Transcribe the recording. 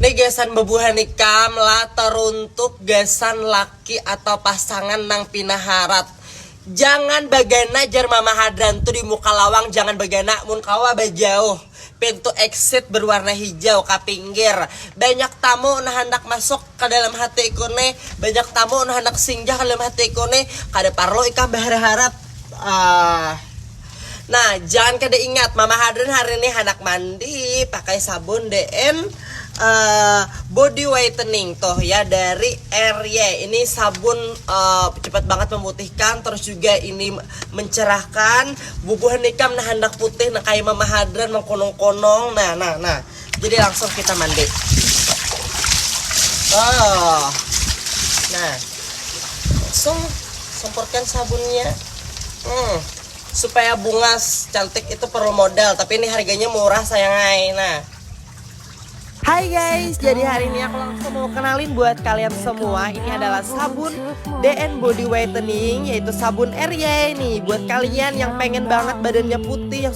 Ni gasan bebuhan ikam lah teruntuk gasan laki atau pasangan nang pina harat. Jangan bagana jar mama hadran tu di muka lawang jangan bagana mun kawa bajauh. Pintu exit berwarna hijau kapinggir banyak tamu nah handak masuk. ka dalam hati ikun ne, banyak tamu un handak singgah ka dalam hati ikun ne, kada parlu ikam baharap-harap. Aahh. Nah, jangan kada ingat, Mama Hadrin hari ni handak mandi pakai sabun DN Body Whitening tuh ya dari RY. Ini sabun cepat banget memutihkan, terus juga ini mencerahkan. Bubuhan ikam nah handak putih nah kaya Mama Hadrin mengkonong-konong. Nah, nah, nah. jadi langsung kita mandi oh nah langsung semprotkan sabunnya hmm, supaya bunga cantik itu perlu modal tapi ini harganya murah sayangai nah Hai guys, jadi hari ini aku langsung mau kenalin buat kalian semua Ini adalah sabun DN Body Whitening Yaitu sabun Erie nih Buat kalian yang pengen banget badannya putih yang